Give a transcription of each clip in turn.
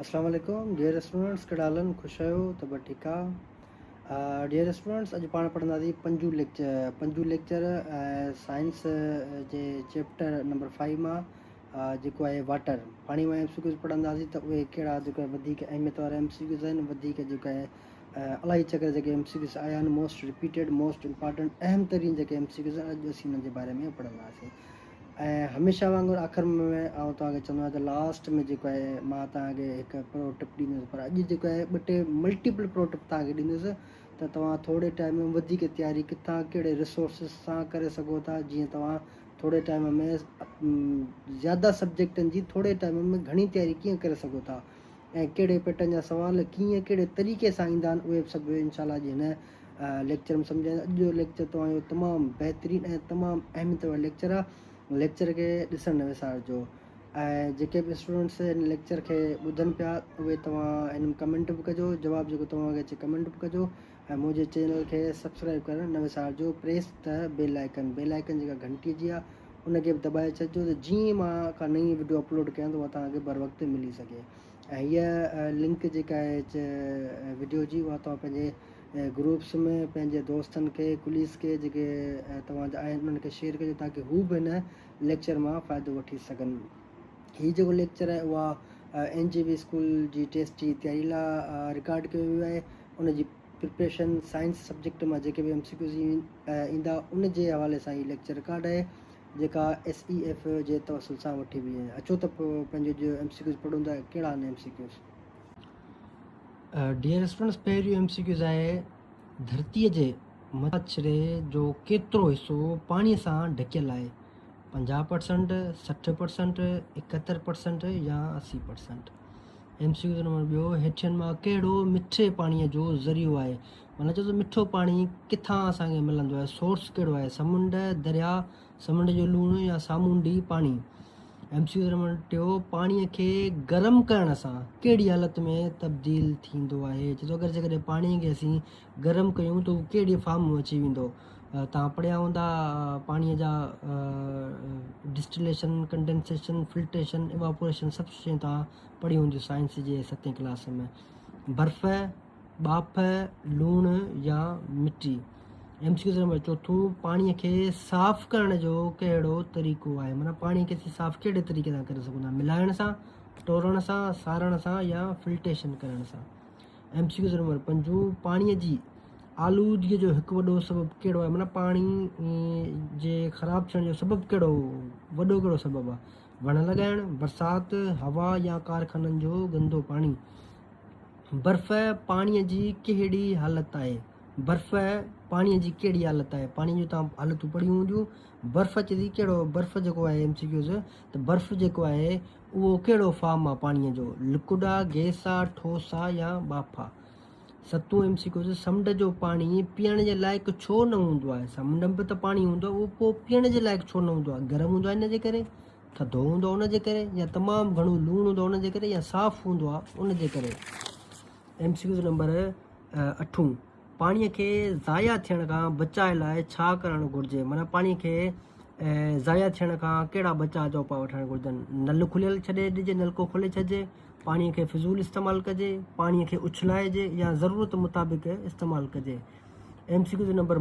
اسلام عليڪم dear students ڪهڙا حال آهن خوش آهيو ته به ٺيڪ آ ڊيئر اسٽوڊنٽس اڄ پاڻ پڙهنداسين پنجون ليڪچر پنجون ليڪچر سائنس جي چيپٽر نمبر 5 مان جيڪو آهي واٽر پاڻي مان ايم سي ڪيوز پڙهنداسين ته اهي ڪهڙا جيڪو وڌيڪ اهميت وارا ايم سي ڪيوز آهن وڌيڪ جيڪو آهي الاهي چڪر جيڪي ايم سي ڪيوز آيا آهن موسٽ رپيٽيڊ موسٽ امپارٽنٽ اهم ترين جيڪي ايم سي ڪيوز آهن اڄ اسين انهن جي باري ۾ پڙهنداسين ۽ هميشه وانگر آخر م م آئون توهان کي چوندو آهيان ته لاسٽ م جيڪو آهي مان توهان کي هڪ پرو ٽپ ڏيندس پر اڄ جيڪو آهي ٻه ٽي ملٽيپل پرو ٽپ توهان کي ڏيندس ته توهان ٿوري ٽائيم م وڌيڪ تياري ڪٿان ڪهڙي ريسورسز سان ڪري سگهو ٿا جيئن توهان ٿوري ٽائيم م زياده سبجيڪٽن جي ٿوري ٽائيم م گهڻي تياري ڪيئن ڪري سگهو ٿا ۽ ڪهڙي پيٽرن جا سوال ڪيئن ڪهڙي طريقي سان ايندا آهن اهي به سڀ انشاء الله اڄ هن ليڪچر ۾ سمجهائيندا اڄ جو ليڪچر توهان جو تمام بهترين ۽ تمام اهميت وارو ليڪچر آهي ليڪچر کي ڏسڻ نه وسارجو ۽ جيڪي به اسٽوڊنٽس هن ليڪچر کي ٻڌن پيا اهي توهان هن ۾ ڪمينٽ به ڪجو جواب جيڪو توهان کي اچي ڪمينٽ به ڪجو ۽ منهنجي چينل کي سبسڪرائب ڪرڻ نه وسارجو پريس ته بيل آئيڪن بيل آئيڪن جيڪا گهنٽي جي آ ان کي به دٻائي ڇڏجو ته جيئن مان ڪا نئين وڊيو اپلوڊ ڪيان ته اها توهان کي بروقت ملي سگهي ۽ هيء لنڪ جيڪا آهي وڊيو جي اها توهان پنهنجي گروپس ۾ پنهنجي دوستن کي ڪليس کي جيڪي توهان جا آهن انهن کي شيئر ڪجو تاڪي هو به هن ليڪچر مان فائدو وٺي سگهن هي جيڪو ليڪچر آهي اها اين جي بي اسڪول جي ٽيسٽ جي تياري لاء رڪارڊ ڪيو ويو آهي ان جي پرپريشن سائنس سبجيڪٽ مان جيڪي به ايم سي ڪيوز ايندا ان جي حوالي سان هي ليڪچر رڪارڊ آهي جيڪا ايس اي ايف جي توسل سان وٺي وئي آهي اچو ته پنهنجو جو ايم سي ڪيوز پڙهون ٿا ڪهڙا آهن M C Qs dear students پهريون ايم سي ڪيوز آهي ڌرتيء جي مٿاڇري جو ڪيترو حصو پاڻي سان ڍڪيل آهي پنجاهه پرسنٽ، سٺ پرسنٽ، ايڪهتر پرسنٽ يا اسي percent. M C Q number ٻيو، هيٺين مان ڪهڙو مٺي پاڻيء جو ذريعو آهي؟ معنيٰ چئو ته مٺو پاڻي ڪٿان اسان کي ملندو آهي، سورس ڪهڙو آهي، سمنڊ، درياء، سمنڊ جو لوڻ يا سامونڊي پاڻي. ايم سي ڪيو نمبر ٽيون، پاڻيء کي گرم ڪرڻ سان ڪهڙي حالت ۾ تبديل ٿيندو آهي؟ چئي ٿو اگر جيڪڏهن پاڻيء کي اسين گرم ڪيون ته هو ڪهڙي فارم ۾ اچي ويندو. توهان پڙهيا هوندا پاڻيء جا ڊسٽليشن، ڪنڊينسيشن، فلٽريشن، ايواپوريشن سڀ شيون توهان پڙهيون هونديون سائنس جي ستين ڪلاس ۾. برف، ٻاڦ، لوڻ يا مٽي. ايم سي ڪيوز نمبر چوٿون، پاڻيء کي صاف ڪرڻ جو ڪهڙو طريقو آهي؟ معنيٰ پاڻيء کي اسين صاف ڪهڙي طريقي سان ڪري سگهون ٿا؟ ملائڻ سان، ٽورڻ سان، سارڻ سان يا فلٽيشن ڪرڻ سان. ايم سي ڪيو نمبر پنجون، پاڻيء جي آلودگيء جو هڪ وڏو سبب ڪهڙو آهي؟ معنيٰ پاڻي جي خراب ٿيڻ جو سبب ڪهڙو وڏو ڪهڙو سبب آهي؟ وڻ لڳائڻ، برسات، هوا يا ڪارخانن جو گندو پاڻي؟ برف پاڻيء جي ڪهڙي حالت آهي؟ برف پاڻيء جي ڪهڙي حالت آهي؟ پاڻيء جون توهان حالتون پڙهيون هونديون. برف اچي ٿي ڪهڙو برف جيڪو آهي ايم سي ڪيوز ته برف جيڪو آهي اهو ڪهڙو فارم آ پاڻيء جو؟ لڪوڊ آ، گئس آ، ٺوس آ يا ٻاڦ آ؟ ستون ايم سي ڪيوز، سمنڊ جو پاڻي پيئڻ جي لائق ڇو نه هوندو آهي؟ سمنڊ ۾ به ته پاڻي هوندو آهي، اهو پوء پيئڻ جي لائق ڇو نه هوندو آهي؟ گرم هوندو آهي ان جي ڪري، ٿڌو هوندو آهي ان جي ڪري يا تمام گهڻو لوڻ هوندو آهي ان جي ڪري يا صاف هوندو آهي ان جي ڪري؟ ايم سي ڪيوز نمبر اٺون. پاڻي کي ضايع ٿيڻ کان بچاء لاء ڇا ڪرڻ گهرجي؟ معنيٰ پاڻي کي ضايع ٿيڻ کان ڪهڙا بچاء جا اپاء وٺڻ گهرجن؟ نل کليل ڇڏي ڏجي، نلڪو کولي ڇڏجي، پاڻي کي فضول استعمال ڪجي، پاڻي کي اڇلائجي يا ضرورت مطابق استعمال ڪجي. ايم سي ڪيو جو نمبر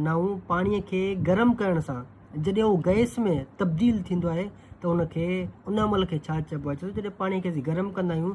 نو، پاڻي کي گرم ڪرڻ سان جڏهن اهو گئس ۾ تبديل ٿيندو آهي ته ان کي ان عمل کي ڇا چئبو آهي؟ چئبو آهي جڏهن پاڻي کي اسين گرم ڪندا آهيون.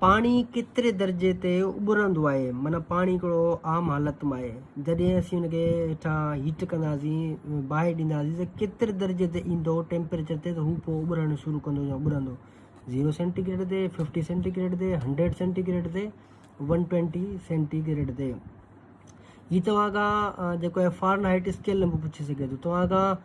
پاڻي ڪيتري درجي تي اٻرندو آهي معنيٰ پاڻي هڪڙو عام حالت ۾ آهي جڏهن اسين ان کي هيٺان هيٽ ڪنداسين باهه ڏينداسين ته ڪيتري درجي تي ايندو ٽيمپريچر تي ته هو پوء اٻرڻ شروع ڪندو يا اٻرندو زيرو سينٽي گريڊ تي ففٽي سينٽي گريڊ تي هنڊريڊ سينٽي گريڊ تي ون ٽوينٽي سينٽي گريڊ تي هي توهان کان جيڪو آهي فارن هائيٽ اسڪيل نمبر پڇي سگهي ٿو توهان کان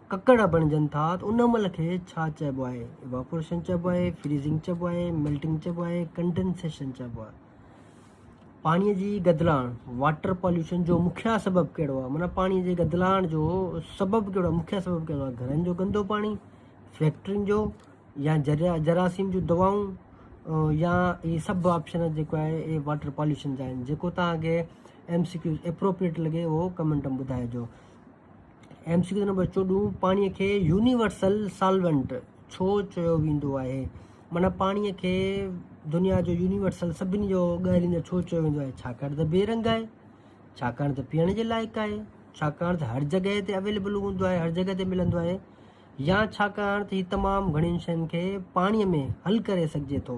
ڪڪڙ بڻجن ٿا ته ان عمل کي ڇا چئبو آهي؟ ايواپوريشن چئبو آهي، فريزنگ چئبو آهي، ميلٽنگ چئبو آهي، ڪنڊنسيشن چئبو آهي. پاڻي جي گدلاڻ، واٽر پاليوشن، جو مکيه سبب ڪهڙو آهي؟ معنيٰ پاڻي جي گدلاڻ جو سبب ڪهڙو آهي؟ مکيه سبب ڪهڙو آهي؟ گهرن جو گندو پاڻي، فيڪٽرين جو يا جراثيم جون دوائون يا هي سڀ آپشن جيڪو آهي اهي واٽر پاليوشن جا آهن. جيڪو توهان کي ايم سي ڪيو ايپروپريٽ لڳي اهو ڪمينٽ ۾ ٻڌائجو. ايم سي ڪيو نمبر چوڏهون پاڻي کي يونيورسل سالونٽ ڇو چيو ويندو آهي معنيٰ پاڻي کي دنيا جو يونيورسل سڀني جو ڳالهيندڙ ڇو چيو ويندو آهي ڇاڪاڻ ته بي رنگ آهي ڇاڪاڻ ته پيئڻ جي لائق آهي ڇاڪاڻ ته هر جڳهه تي اويليبل هوندو آهي هر جڳهه تي ملندو آهي يا ڇاڪاڻ ته هي تمام گهڻين شين کي پاڻي ۾ حل ڪري سگهجي ٿو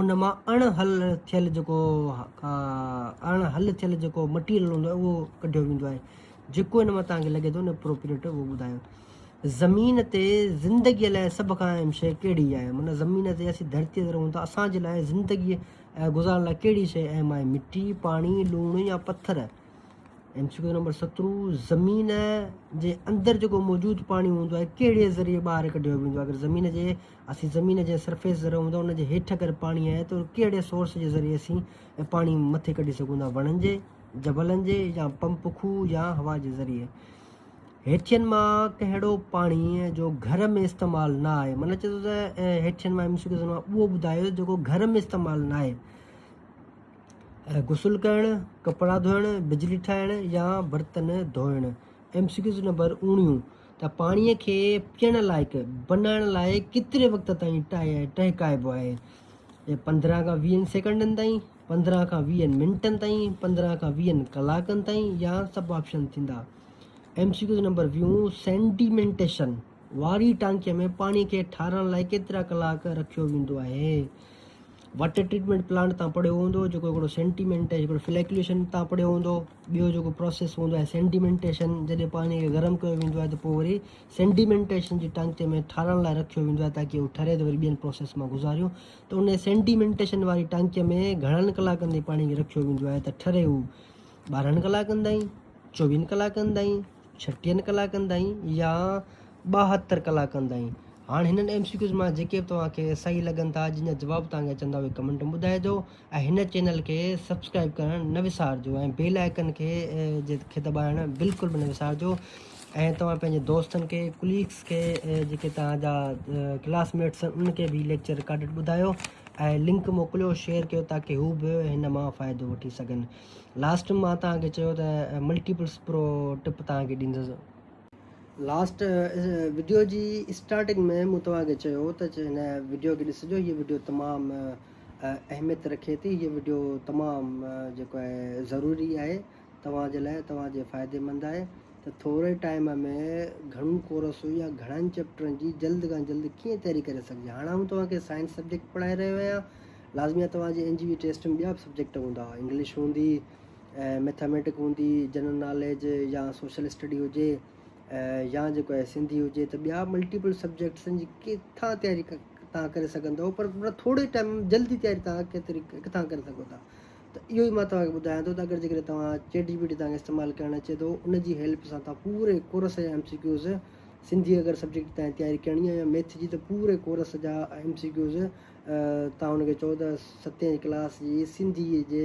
ان مان اڻ حل ٿيل جيڪو اڻ حل ٿيل جيڪو مٽيريل هوندو آهي اهو ڪڍيو ويندو آهي جيڪو ان مان تهانکي لڳي ٿو ان اپروپريٽ اهو ٻڌايو زمين تي زندگي لاء سڀ کان اهم شيء ڪهڙي آهي من زمين تي اسين ڌرتي تي رهون ٿا اسان جي لاء زندگي گذارڻ لاء ڪهڙي شيء اهم آهي مٽي پاڻي لوڻ يا پٿر ايم سی نمبر سترو زمين جي اندر جيڪو موجود پاڻي هوندو آهي ڪهڙي ذريعي ٻاهر ڪڍيو ويندو آهي اگر زمين جي اسين زمين جي سرفيس تي رهون ٿا ان جي هيٺ اگر پاڻي آهي ته ڪهڙي سورس جي ذريعي اسين پاڻي مٿي ڪڍي سگهون ٿا وڻن جي جبلن جي يا پمپ کوهه يا هوا جي ذريعي هيٺين مان ڪهڙو پاڻي جو گهر ۾ استعمال نه آهي من چئي ٿو ته هيٺين مان ايم سي ڪيو مان اهو ٻڌايو جيڪو گهر ۾ استعمال نه آهي غسل ڪرڻ ڪپڙا ڌوئڻ بجلي ٺاهڻ يا برتن ڌوئڻ ايم سي ڪيوز نمبر اوڻيون ته پاڻيء کي پيئڻ لائق بنائڻ لاء ڪيتري وقت تائين ٽهڪائبو آهي؟ پندرهن کان ويهن سيڪنڊن تائين، پندرهن کان ويهن منٽن تائين، پندرهن کان ويهن ڪلاڪن تائين يا سڀ آپشن ٿيندا. ايم سي ڪيوز نمبر ويون، سينڊيمينٽيشن واري ٽانڪيء ۾ پاڻيء کي ٺارڻ لاء ڪيترا ڪلاڪ رکيو ويندو آهي؟ واٽر ٽريٽمينٽ پلانٽ تان پڙهيو هوندو، جيڪو هڪڙو سينڊيمينٽيشن هڪڙو فليڪليشن تان پڙهيو هوندو. ٻيو جيڪو پروسيس هوندو آهي سينڊيمينٽيشن جڏهن پاڻي کي گرم ڪيو ويندو آهي ته پوء وري سينڊيمينٽيشن جي ٽانڪي ۾ ٺارڻ لاء رکيو ويندو آهي تاڪي هو ٺري ته وري ٻين پروسيس مان گذاريون ته ان سينڊيمينٽيشن واري ٽانڪي ۾ گهڻن ڪلاڪن تائين پاڻي کي رکيو ويندو آهي ته ٺري هو ٻارهن ڪلاڪن تائين چوويهن ڪلاڪن تائين ڇٽيهن ڪلاڪن تائين يا ٻاهتر ڪلاڪن تائين هاڻ هنن ايم سي ڪيوز مان جيڪي به توهان کي صحيح لڳن ٿا جن جا جواب توهان کي اچن ٿا اهي ڪمنٽ ۾ ٻڌائجو ۽ هن چينل کي سبسڪرائب ڪرڻ نه وسارجو ۽ بيل آئيڪن کي کي دٻائڻ بلڪل به نه وسارجو ۽ توهان پنهنجي دوستن کي ڪليگس کي جيڪي توهان جا ڪلاس ميٽس آهن ان کي به ليڪچر رڪارڊڊ ٻڌايو ۽ لنڪ موڪليو شيئر ڪيو تاڪي هو به هن مان فائدو وٺي سگهن لاسٽ مان توهان کي چيو ته ملٽيپلس پرو ٽپ توهان کي ڏيندس لاسٽ وڊيو جي اسٽارٽنگ ۾ مون توهان کي چيو ته هن وڊيو کي ڏسجو هيء وڊيو تمام اهميت رکي ٿي هيء وڊيو تمام جيڪو آهي ضروري آهي توهان جي لاء توهان جي فائدي مند آهي ته ٿوري ٽائيم ۾ گهڻو ڪورس يا گهڻن چيپٽرن جي جلد کان جلد ڪيئن تياري ڪري سگهجي هاڻ آئون توهان کي سائنس سبجيڪٽ پڙهائي رهيو آهيان لازمي آهي توهان جي اين جي وي ٽيسٽ ۾ ٻيا به سبجيڪٽ هوندا انگلش هوندي ميٿاميٽڪ هوندي جنرل ناليج يا سوشل اسٽڊي هجي يا جيڪو آهي سنڌي هجي ته ٻيا ملٽيپل سبجيڪٽسن جي ڪٿان تياري تان ڪري سگهندو پر ٿوري ٽائيم جلدي تياري تان ڪيتري ڪٿان ڪري سگهو ٿا ته اهو ئي مان توهان کي ٻڌايان ٿو ته اگر جيڪڏهن توهان چيٽ جي پي ٽي توهان کي استعمال ڪرڻ اچي ٿو ان جي هيلپ سان توهان پوري ڪورس جا ايم سي ڪيوز سنڌي اگر سبجيڪٽ تائين تياري ڪرڻي آهي يا ميٿ جي ته پوري ڪورس جا ايم سي ڪيوز تان هن کي چوڏهن ستين ڪلاس جي سنڌي جي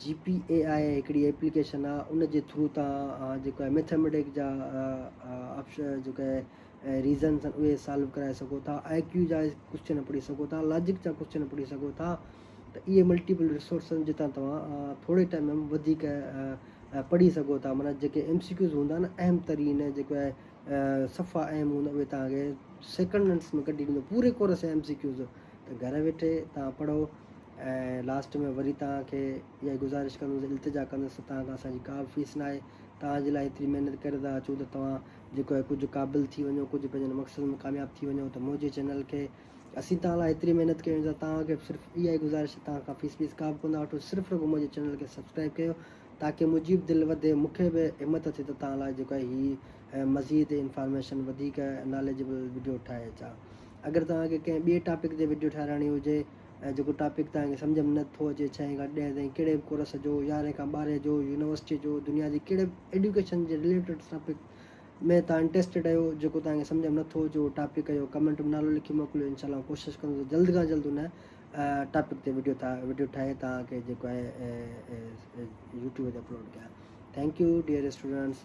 جي پي اي آء هڪڙي ايپليڪيشن آ ان جي ٿرو تهان جيڪو آهي ميٿيميٽڪ جا آپشن جيڪو آهي ريزنس آهن اهي سالو ڪرائي سگهو ٿا آء ڪيو جا ڪوشچن پڙهي سگهو ٿا لاجڪ جا ڪوشچن پڙهي سگهو ٿا ته اهي ملٽيپل رسورسز جتان توهان ٿوري ٽائيم ۾ وڌيڪ پڙهي سگهو ٿا معنيٰ جيڪي ايم سي ڪيوز هوندا آهن اهم ترين جيڪو آهي صفا اهم هوندا اهي توهان کي سيڪنڊس ۾ ڪڍي ڏيندو پوري ڪورس جا ايم سي ڪيوز گهر ويٺي تهان پڙهو ۽ لاسٽ ۾ وري توهان کي اها ئي گذارش ڪندس التجا ڪندس ته توهان کان اسان جي ڪا به فيس ناهي توهان جي لاء ايتري محنت ڪري ٿا اچون ته توهان جيڪو آهي ڪجهه قابل ٿي وڃو ڪجهه پنهنجن مقصدن ۾ ڪامياب ٿي وڃو ته منهنجي چينل کي اسين توهان لاء ايتري محنت ڪيون ته توهان کي به صرف اها ئي گذارش ته توهان کان فيس ويس ڪا به ڪونه وٺون صرف رڳو منهنجي چينل کي سبسڪرائب ڪيو تاڪي منهنجي به دل وڌي مون کي به همت اچي ته توهان لاء جيڪو آهي هي مزيد انفارميشن وڌيڪ ناليجبل وڊيو ٺاهي اچان اگر توهان کي ڪنهن ٻئي ٽاپڪ تي وڊيو ٺهرائڻي هجي ۽ جيڪو ٽاپڪ توهان کي سمجهه ۾ نه ٿو اچي ڇهين کان ڏهين تائين ڪهڙي به ڪورس جو يارهين کان ٻارهين جو يونيورسٽي جو دنيا جي ڪهڙي به ايڊيوڪيشن جي رليٽيڊ ٽاپڪ ۾ توهان انٽريسٽيڊ آهيو جيڪو توهان کي سمجهه ۾ نه ٿو اچي اهو ٽاپڪ جو ڪمينٽ ۾ نالو لکي موڪليو انشاء الله ڪوشش ڪندو ته جلد کان جلد ان ٽاپڪ تي وڊيو ٺاهي وڊيو ٺاهي توهان کي جيڪو آهي يوٽيوب تي اپلوڊ ڪيان ٿينڪ يو ڊيئر اسٽوڊنٽس